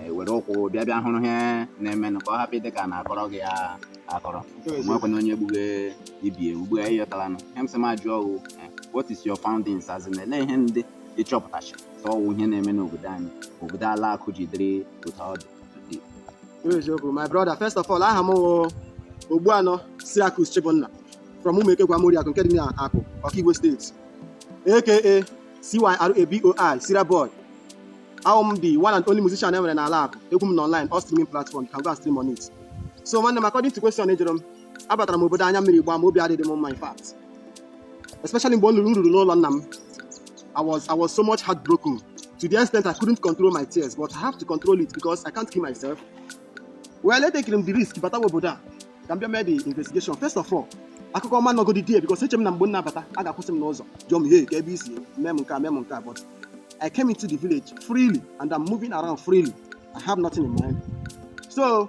e, were ụkwụ bịa bịa hụrụ ihe na-eme ka ọ hapụ ịdị ka a na-akọrọ gị ya akọrọ nwekwana onye gbughe ibi ewu gbughe ihe ị ghọtalanụ ihe m sị m ajụ ọ wụ e, what is your findings as in ele ihe ndị ị chọpụtacha ka ọ wụ ihe na-eme n'obodo anyị obodo ala Akụ ji dịrị otu ọ dị eziokwu my brother first of all aha m wụ Ogbuanụ Cyriacus Chibunna from Umeke Gwamoriakụ nke dị n'Akụ Ọkigwe steeti aka CYRABOI Sira Boy a wụ m the one and only musician e nwere n'ala Akụ egwu m nọ online all streaming platform you can go and stream on it so nwanne m according to question ị jụrụ m abatara m obodo anya mmiri gbaa m obi adịghị m mma in fact especially mgbe ọ lụrụ m ruru n'ụlọ nna m I was I was so much heartbroken to the extent I couldn't control my tears but I have to control it because I can't kill myself well etekiri m the risk batawa obodo a ka m bịa mee the investigation first of all akụkọ ọma nọgodi die because eche m na mgbe m na-abata a ga-akwụsị m n'ụzọ jụọ m ihe ka ebe i si mee m nke a mee m nke a but I came into the village freely and I'm moving around freely. I have nothing in mind. So,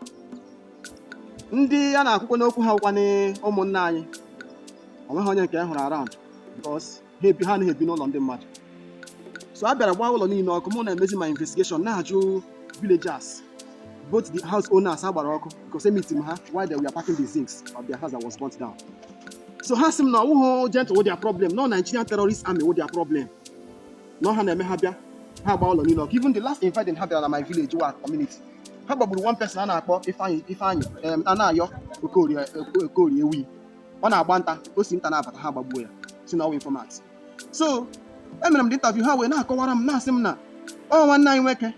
ndị a na-ekwukwanụ okwu ha wụkwa ụmụnna anyị onweghị onye nke hụrụ around because ha ebi ha anaghị ebi n'ụlọ ndị mmadụ so a bịara gbaa ụlọ niile ọkụ mụ na-emezi my investigation na-ajụ villagers both the house owners a gbara ọkụ because emeetiri m ha while they were packing the zincs of their house that was burnt down so ha sị m na ọ wụghị Gentle wụ their problem na ọ Nigerian terrorist army wụ their problem na ọ ha na-eme ha bịa ha gba ụlọ niile ọkụ even the last invading ha bịara na my village wa community ha gbagburu one person a na-akpọ Ifeanyi Ifeanyi em, Anayọ Okorie Oko- Okorie Ewi ọ na-agba nta o si nta na-abata ha gbagbuo ya sị na ọ wụ informant so emere m the interview ha wee na-akọwara m na-asị m na ọ nwanne anyị nwoke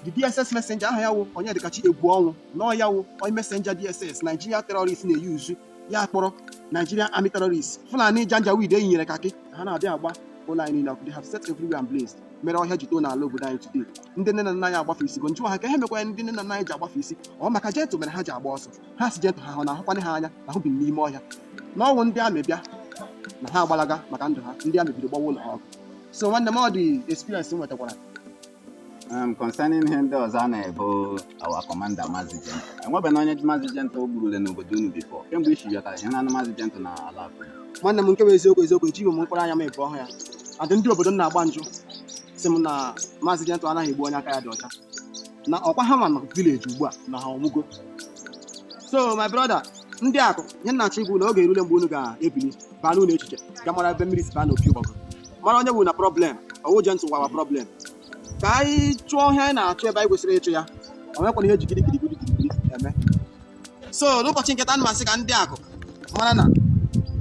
the DSS messenger aha ya wụ Onyedikachi Egwuọnwụ na ọ ya wụ onye messenger DSS Nigeria terrorist na-eyuzu ya kpọrọ Nigerian army terrorists Fulani Janjaweed e yinyere kakị ha na-abịa agba ụlọ anyị niile ọkụ they have set everywhere ablaze mere ọhịa ji too n'ala obodo anyị today ndị nne na nna anyị agbafesigo m jụwa ha ka ihe mekwara ndị nne na nna anyị ji agbafesi ọ maka Gentle mere ha ji agba ọsọ ha sị Gentle ha hụ na ahụkwanụ ha anya na ha bi n'ime ọhịa na ọ wụ ndị army bịa na ha agbalaga maka ndụ ha ndị army bido gbawa ụlọ ha ọkụ so nwanne m ọ the experience m nwetakwara Um, concerning ihe ndị ọzọ a na-ebo our commander Mazi Gentle enwebeghị onye Mazi Gentle o gburule n'obodo unu before kemgbe i si bịatara ihe na-anụ Mazi Gentle n'ala Akụ nwanne m nke bụ eziokwu eziokwu ejighị m mkpụrụ anya m abụọ hụ ya and ndị obodo m na-agba njụ sị m na Mazi Gentle anaghị egbu onye aka ya dị ọcha na ọkwa ha ma na village ugbu a na ha anwụgo so my brother ndị Akụ ihe m na-achọ ịgwa unu oge erule mgbe unu ga-ebili baa n'ụlọ echiche gaa mara ebe mmiri si baa n'opi ụgbọgụrụ mara onye wuru na problem ọ wụ Gentle wụ our problem ka anyị chụọ ihe anyị na-achụ ebe anyị kwesịrị ịchụ ya o nwekwana ihe e ji gidigidi gidigidi eme so n'ụbọchị nke taa ana m asị ka ndị akụ mara na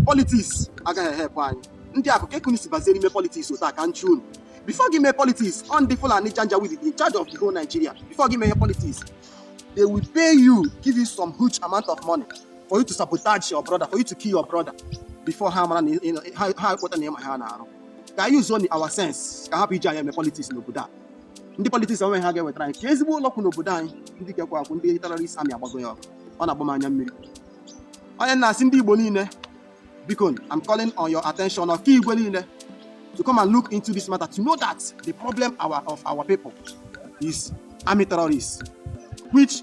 politics agaghị e-help anyị ndị akụ ka ekunu si bazie n'ime politics otu a ka nchi unu before gị mee politics ọ ndị fulani janjaweed in charge of the whole nigeria before gị mee ihe politics they will pay you give you some huge amount of money for you to sabotage your brother for you to kill your brother before ha mara ha ekpọta na ịma ha na-arụ ka anyị use nụ our sense ka hapụ iji anyị eme politics n'obodo a ndị politics onwe ha ga-ewetara anyị ka ezigbo ụlọ ọgwụ n'obodo anyị ndị lekwa akụ ndị terrorist army agbago ya ọkụ ọ na-agba m anya mmiri onye na-asị ndị Igbo niile biko I'm calling on your attention Okigwe niile to come and look into this matter to know that the problem our, of our people is army terrorists which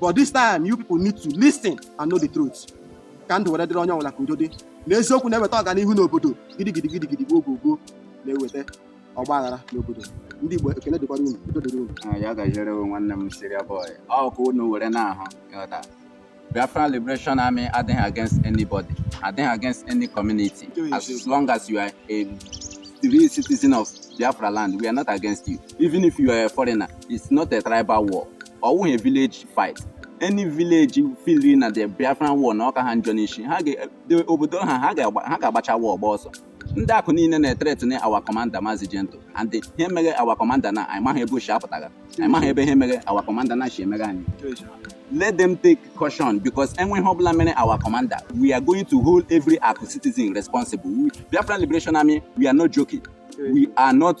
but this time you people need to listen and know the truth ka ndụ were dịrị onye ọbụla ka udo dị na eziokwu na-eweta ọganihu n'obodo gidigidi gidigidi gboo gboo gboo na-eweta ọgba aghara n'obodo ndị Igbo ekele dịkwara unu udo dịrị unu Ah, ya gaziere gị nwanne m siria boy ọ ka unu were na-ahụ ịghọta biafra liberation army adịghị against anybody adịghị against any community as long as you are a real citizen of biafra land we are not against you even if you are a foreigner it's not a tribal war ọ wụghị village fight any village feel na the Biafran war na ọ ka ha njọ n'isi ha obodo ha ha ga-agbacha wa ọgba ọsọ ndị akụ niile na-ethreaten our commander mazi Gentle and ihe mere our commander na anyị maghị ebe o si apụtara anyị maghị ebe ihe mere our commander na chi emere anyị let them take caution because anything ọbụla mere our commander we are going to hold every akụ citizen responsible Biafran Liberation Army we are not joking we are not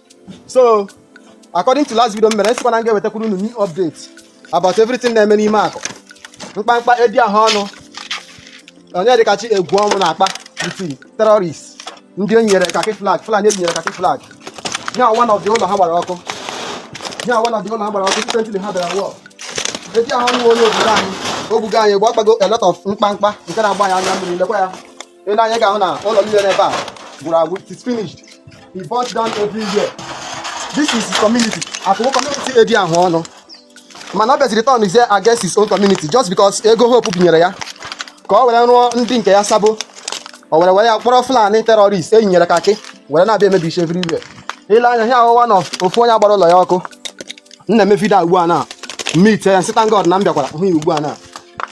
so according to last video m mere asịkwa na m ga-ewetakwuru unu new update about everything na-eme n'ime akụ mkpamkpa edi ahụ ọnụ Onyedikachi Egwuọnwụ na-akpa with terrorist ndị o nyere kakị flag fulani e nyere kakị flag nye awa na ọdị ụlọ ha gbara ọkụ nye awa na ọdị ụlọ ha gbara ọkụ site ha bịara wọl edi ahụ ọnụ onye obodo anyị o gbugo anyị gba akpago a lot of mkpamkpa nke na-agba ya anya mmiri lekwa ya i lee anya ị ga-ahụ na ụlọ niile n'ebe a gwụrụ agwụ it is finished he burnt down everywhere this is his community akụkụ community edi ahụ ọnụ mana ọ bịaziri turnụzie against his own community just because ego Hope bunyere ya ka ọ were rụọ ndị nke ya sabo o were were ya kpọrọ fulani terrorist e yinyere kakị were na-abịa emebisi everywhere i lee anya ha ahụwa na ofu onye a gbara ụlọ ya ọkụ m na-eme video ugbu a na m meet ya sị thank God na m bịakwara hụ ya ugbu a na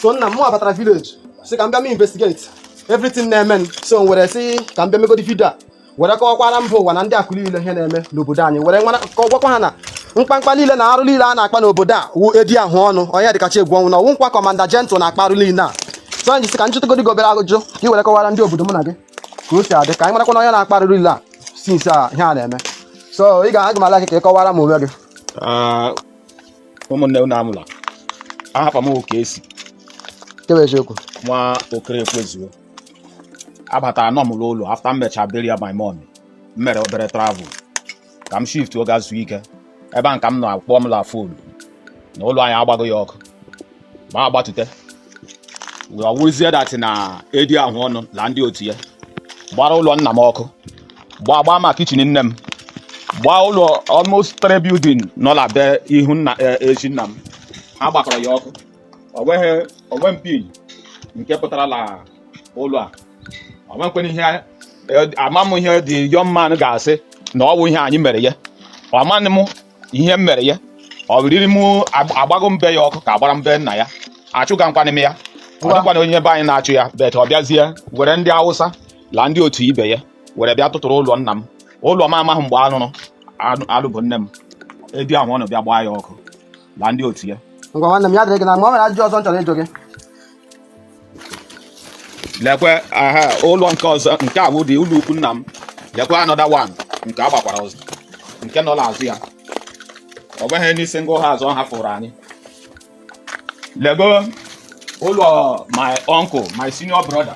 so nna m abatara village sị ka m bịa m investigate everything na-eme so m were sị ka m bịa megodi vidio a were kọwakwara mba ụwa na ndị akụ niile ihe na-eme n'obodo anyị were mara ka ọ gwakwa ha na mkpamkpa niile na arụ niile a na-akpa n'obodo a wụ edi ahụọnụ onye dịkacha egwu ọ wụ na ọ wụkwa commander gentle na-akpa arụ niile a so anyị ji sị ka m jụtụgodi gị obere ajụjụ ka ị were kọwara ndị obodo mụ na gị ka o si adị ka anyị marakwanụ onye na-akpa arụ niile a since a ihe a na-eme so ị ga-agwa m aha gị ka ị kọwara m onwe gị ụmụnne unu anwụla ahapa m oke esi ke wụ eziokwu nwa okere ekwezuo abataranụ m n'ụlọ after m mecha burial my mom m mere obere travel ka m shiftuo ga zuo ike ebe a ka m nọ a kpọọ m la fon na ụlọ anyị agbago ya ọkụ m agbatute wee ọ wụzie that na edi ahụọnụ na ndị otu ya gbara ụlọ nna m ọkụ gbaa gbaa ma kitchen nne m gbaa ụlọ almost three building nọ na be ihu nna e- ezi nna m ha gbakọrọ ya ọkụ o nweghị one pin nke pụtara na ụlọ a o nwekwere ihe e- ama m ihe the young man ga-asị na ọ bụ ihe anyị mere ya amaghị m ihe m mere ya ọ bụ riri m ag- agbago m be ya ọkụ ka agbara m be nna ya achụgakwanụ m ya ọ dịkwanụ onye be anyị na-achụ ya but ọ bịazie were ndị awụsa la ndị otu ibe ya were bịa tụtụrụ ụlọ nna m ụlọ m amaghị mgbe a rụrụ anụ- alụbe nne m edi ahụọnụ bịa gbaa ya ọkụ la ndị otu ya ngwa nwanne m ya dịrị gị mma o nwere ajụjụ ọzọ m chọrọ ịjụ gị lekwe aha ụlọ nke ọzọ nke a wụdị ụlọ ukwu nna m lekwe another one nke a gbakwara ọzọ nke nọ n'azụ ya ọ bụghị n'isi ngụ ha azụ ha fụrụ anyị lego ụlọ my uncle my senior brother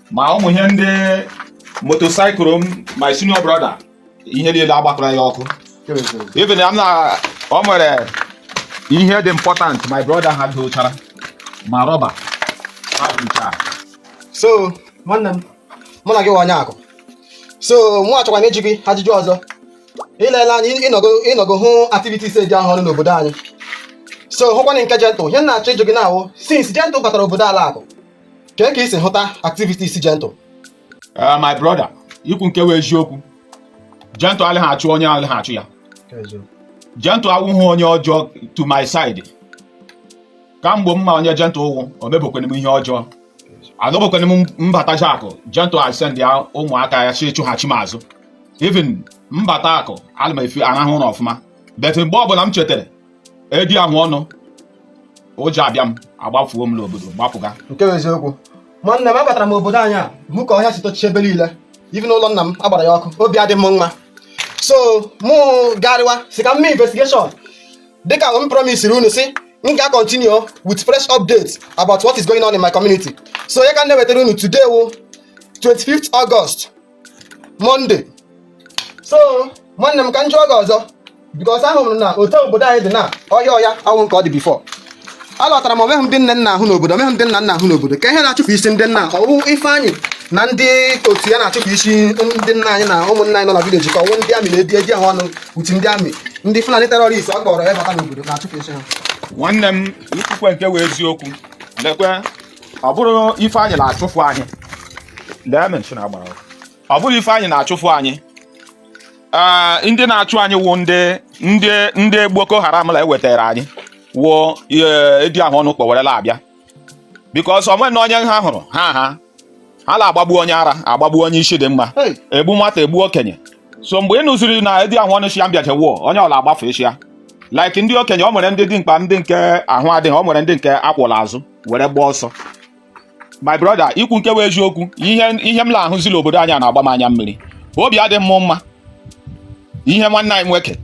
ma ụmụ ihe ndị motorcycle m my senior brother ihe niile agbakọrọ ya ọkụ even m na ọ nwere ihe dị important my brother ha dochara ma rọba so nwanne m mụ na gị wụ onye akụ so mụ achọkwanụ ịjụ gị ajụjụ ọzọ i lele anya ị nọgo hụ activities edi ahụọnụ n'obodo anyị so hụkwanụ nke gentle ihe m na-achọ ịjụ gị now wụ since gentle batara obodo ala akụ kee ka i si hụta activities gentle Eh, my brother ikwu nke wụ eziokwu gentle alaghị achụ onye alaghị achụ ya gentle awụghị onye ọjọọ to my side kamgbe m ma onye gentle wụ o mebekwanụ m ihe ọjọọ agabekwanụ m m bata akụ gentle asend ya ụmụaka ya sị chụghachi m azụ even m bata akụ ana m even arahụ ụra ọfụma but mgbe ọbụla m chetere edi ahụ ọnụ ụjọ abịa m agbafuo m n'obodo gbapụga nke bụ eziokwu nwanne m abatara m obodo anyị a hụ ka ọhịa si tochie ebe niile even ụlọ nna m agbara ya ọkụ obi adị m mma so mụ garịwa si ka m mee investigation dịka m promisiri unu si m ga continue with fresh updates about what is going on in my community so onye ka m na-ewetara unu today wụ 25th August Monday so nwanne m ka m jụọ gị ọzọ because ahụrụ m na otu obodo anyị dị na ọhịa ọhịa awụ nke ọ dị before alọtara m o nweghị ndị nne nna ahụ n'obodo o nweghị ndị nna nna ahụ n'obodo ka ihe na-achụpụsị ndị nna ọ wụ Ifeanyị na ndị otu ya na-achụpụsị ndị nna anyị na ụmụnna anyị nọ na village ka ọ wụ ndị army na edi ahụ ọnụ with ndị army ndị Fulani terrorist ọ kpọrọ ya bata n'obodo na-achụpụsị ha nwanne m ikwukwa nke wụ eziokwu lekwe ọ bụrụ Ifeanyị na-achụfụ anyị lee mansion agbara ọkụ. ọ bụrụ Ifeanyị na-achụfụ anyị Ah, ndị na-achụ anyị wụ ndị ndị ndị Boko Haram la ewetara anyị wụ eh, edi ahụ ọnụ kpọwerela abịa because onwe na onye ha hụrụ ha ha ha na-agbagbu onye ara agbagbu onye isi dị mma Hey. egbu nwata egbu okenye so mgbe ị nụziri na edi ahụ ọnụ shia mbịaje wụọ onye ọwụla agbafe shia like ndị okenye ọ nwere ndị ji mkpa ndị nke ahụ adịghị ọ nwere ndị nke a kwọ l'azụ were gbaa ọsọ my brother ikwu nke bụ eziokwu ihe ihe m na-ahụzi l'obodo anyị na-agba m anya mmiri obi adị m mma ihe nwanne anyị nwoke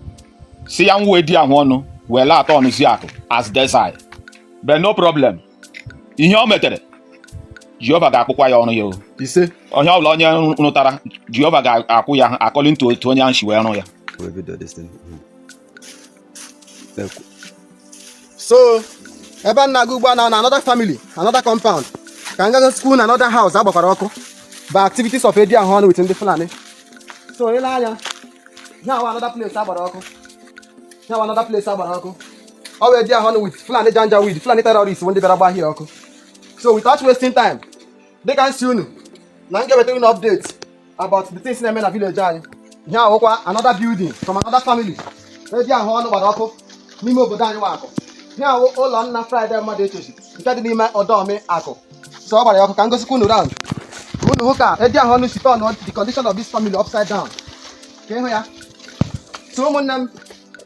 si ya nwa edi ahụ ọnụ wee la-aturnụzi Akụ as desert but no problem ihe o metere jehova ga-akwụkwa ya ọrụ ya o ise onye ọbụla onye rụtara jehova ga-akwụ ya according to otu onye ahụ si wee rụ ya Where have you done this thing? Mhm. so ebe a na-aga ugbu a na another family another compound ka m gago school na another house agbakwara ọkụ by activities of edi ahụ ọnụ with ndị Fulani so i lee anya ihe a wụ another place agbara ọkụ ihe a wụ another place agbara ọkụ ọ bụ edi ahụ ọnụ with Fulani Janjaweed Fulani terrorists bụ ndị bịara gbaa ihe a ọkụ so without wasting time dịka m si unu na m ga-ewetara unu update about the things na-eme na village anyị ihe a wụkwa another building from another family edi ahụ ọnụ gbara ọkụ n'ime obodo anyị wụ Akụ ihe a wụ ụlọ nna Friday mmadụ echechi nke dị n'ime ọdọmi akụ so ọ gbara ya ọkụ ka m gosikwa unu round unu hụ ka edi ahụ ọnụ si turnụọ the condition of this family upside down ka ị hụ ya so ụmụnne m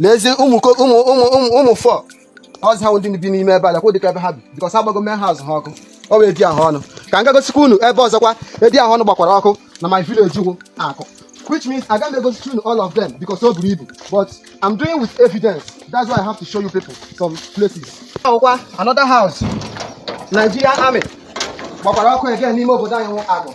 n'ezi ụmụ ụmụ ụmụ ụmụ fọ ọzọ ha ndị bi n'ime ebe a lekwa dịka ebe ha bi because agbago main house ha ọkụ ọ bụ edi ahụ ọnụ ka m gagosikwa unu ebe ọzọkwa edi ahụ ọnụ gbakwara ọkụ na my village Ugwuakụ which means I can't go through all of them because so believe. But I'm doing with evidence. That's why I have to show you people some places. Another house. Nigerian army gbakwara ọkụ again n'ime obodo anyị wụ Akụ.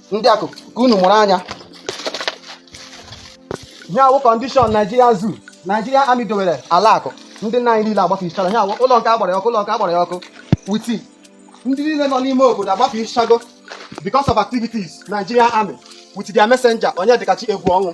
ndị akụ ka unu mụrụ anya ihe a wụ condition Naijiria zoo Naijiria army dowere ala akụ ndị nna anyị niile agbafichara ihe a wụ ụlọ nke a gbara ya ọkụ ụlọ nke a gbara ya ọkụ with ndị niile nọ n'ime obodo agbafichago because of activities Naijiria army with their messenger Onyedịkachi Egwuọnwụ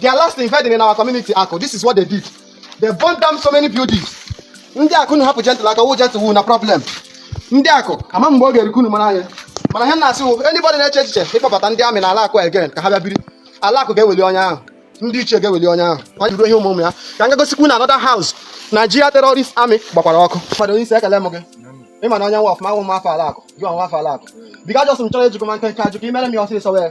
Their last invading in our community, Akụ. This is what they did. They burned down so many buildings. Ndị akụ na hapụ gentle aka wụ gentle wụ na problem. Ndị akụ ama mgbe ọ ga-erikwu unu mara anya. Mana ihe m na-asị wụ anybody na-eche echiche ịkpọbata ndị army na ala akụ again ka ha bịa biri. Ala akụ ga-eweli onye ahụ. Ndị ichie ga-eweli onye ahụ. Ọ jụrụ ihe ụmụ ụmụ ya. Ka m ga gosikwu unu another house Nigeria terrorist army gbakwara ọkụ. Fọdụ onye isi ekele m gị. Ị ma na onye nwa ọfụma wụ nwa afọ ala akụ. Gị wụ nwa afọ ala akụ. Bika jọsụ m chọrọ ejikọ ma nkenke ajụkọ imere m ya ọsịsọ wee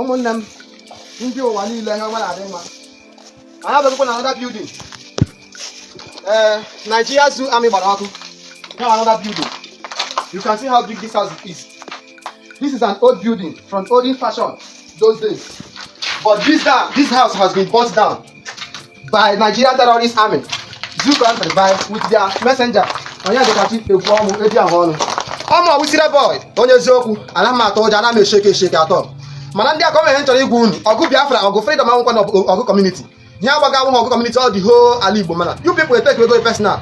ụmụnne m ndị ụwa niile ha nwere adị mma anyị abịakwukwa na another building ee eh, Nigeria Zoo Army gbara ọkụ now another building you can see how big this house is this is an old building from olden fashion those days but this, this house has been burnt down by Nigerian terrorist army zoo country by with their messenger Onyedịkachi Egwuọnwụ eji ahụ ọnụ ọmụ ọwụsire boy onye eziokwu anaghị m atụ ụjọ anaghị m e-shake e-shake at all mana ndị akụ o nwere ihe m chọrọ ịgwa unu ọgụ biafra ọgụ freedom awụkwanụ ọgụ community ihe a gbaga awụghị ọgụ community ọ the whole ala igbo mana you people take ego personal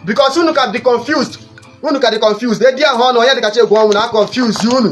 because unu ka dị confused unu ka dị confused edi ahụ ọnụ Onyedịkachi Egwuọnwụ na-confuse unu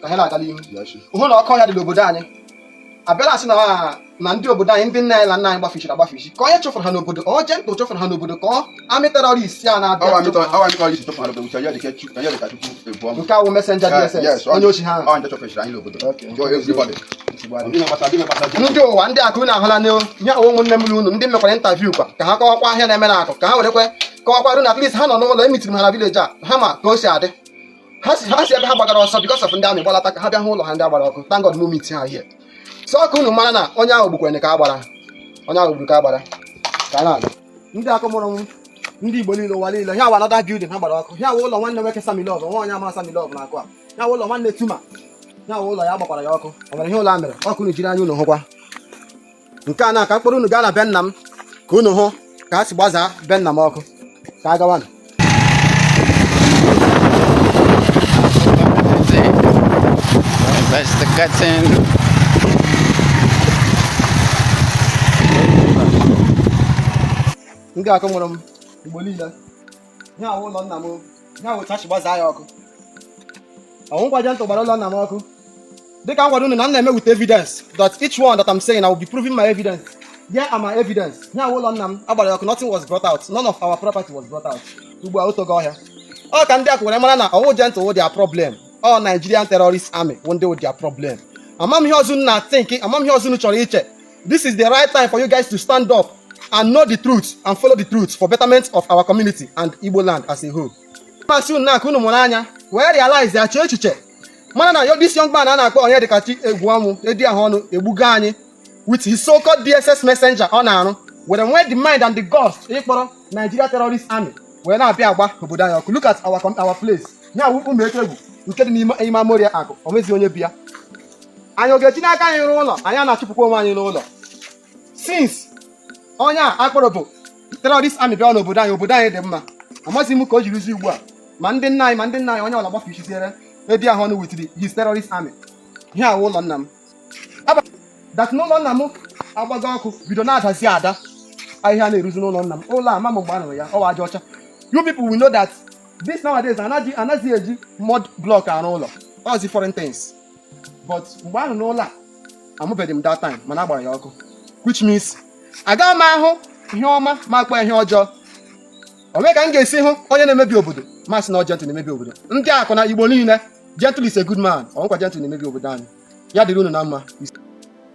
ka ha na-aga n'ihu hụ na ọkọ ya dị n'obodo anyị abịala a sị na na ndị obodo anyị ndị nna anyị na nne anyị gbafichiri agbafichi ka onye chụfụrụ ha n'obodo ọ Gentle chụfụrụ ha n'obodo ka ọ army terrorist a na-abịa nke a wụ messenger DSS onye ozi ha ndị ụwa ndị akụ unu ahụla n'ihu nye ụwa ụmụnne m unu ndị mekwara interview kwa ka ha kọwakwa ihe a na-eme na akụ ka ha werekwe kọwakwarụ na at least ha nọ n'ụlọ e meetiri ha na village a ha ma ka o si adị ha si ha si ebe ha gbagara ọsọ because of ndị army gbalata ka ha bịa hụ ụlọ ha ndị a gbara ọkụ thank God mụ met ha here so ọ ka unu mara na onye ahụ gbukwere ka a gbara onye ahụ gburu ka a gbara ka a na-aga ndị akụ mụrụ m ndị igbo niile ụwa niile ihe a wụ another building ha gbara ọkụ ya wụ ụlọ nwanne nwoke Sammy Love nwa onye ama Sammy Love na akụ a ya wụ ụlọ nwanne tuma ya wụ ụlọ ya gbakwara ya ọkụ o nwere ihe ụlọ a mere ọ ka unu jiri anya unu hụkwa nke a na ka m kpọrọ unu gaa na be nna m ka unu hụ ka a si gbazaa be nna m ọkụ ka a gawanụ ndị akụ nwere m igbo niile ya awụ ụlọ nna m ya awụ chachi gbazaa ya ọkụ ọnwụkwa Gentle gbara ụlọ nna m ọkụ dịka m gwara unu na m na-eme with evidence that each one that I'm saying I will be proving my evidence yeah I'm my evidence ya awụ ụlọ nna m a gbara ọkụ nothing was brought out none of our property was brought out ugbu a o togo ọhịa ọ ka ndị Aku were mara na ọnwụ Gentle wụ their problem ọ Nigerian terrorist army wụ ndị wụ their problem ama m ihe ọzọ na think ama m ihe ọzọ chọrọ iche This is the right time for you guys to stand up and know the truth and follow the truth for betterment of our community and Igbo land as a whole. Masị unu na-akụ unu mụrụ anya wee realize ya chee echiche mara na ọ this young man a na-akpọ Onyedikachi Egwu ọnwụ edi ahụ ọnụ egbugo anyị with his so-called DSS messenger ọ na-arụ were nwee the mind and the guts ịkpọrọ Nigeria terrorist army wee na-abịa agba obodo anyị ọkụ look at our, our place ya wụ ụmụ etegwu nke dị n'ime ime Amoria Aku o nweghị onye bi ya anyị ọ ga-eji n'aka anyị rụọ ụlọ anyị na-achụpụkwa onwe anyị n'ụlọ since onye a akpọrọ bụ terrorist army bịa n'obodo anyị obodo anyị dị mma amaghịzi m ka o jirizi ugbu a ma ndị nna anyị ma ndị nna anyị onye ọ bụla gbafichiziere ebe ahụ ọnụ with his terrorist army ihe a wụ ụlọ nna m that n'ụlọ nna m agbago ọkụ bido na-adazi ada ahịhịa na-eruzi n'ụlọ nna m ụlọ ama m mgbe a rụrụ ya ọ wụ aja ọcha you people will know that this nowadays anaghị eji mud block arụ ụlọ ọ zi foreign things but mgbe ahụ n'ụlọ a amụbeghị m that time mana a gbara ya ọkụ which means agaghị m ahụ ihe ọma m akpọọ ihe ọjọọ o nwe ka m ga-esi hụ onye na-emebi obodo m asị na ọ Gentle na-emebi obodo ndị Aku na Igbo niile Gentle is a good man ọnwụkwa Gentle na-emebi obodo anyị ya dịrị unu na mma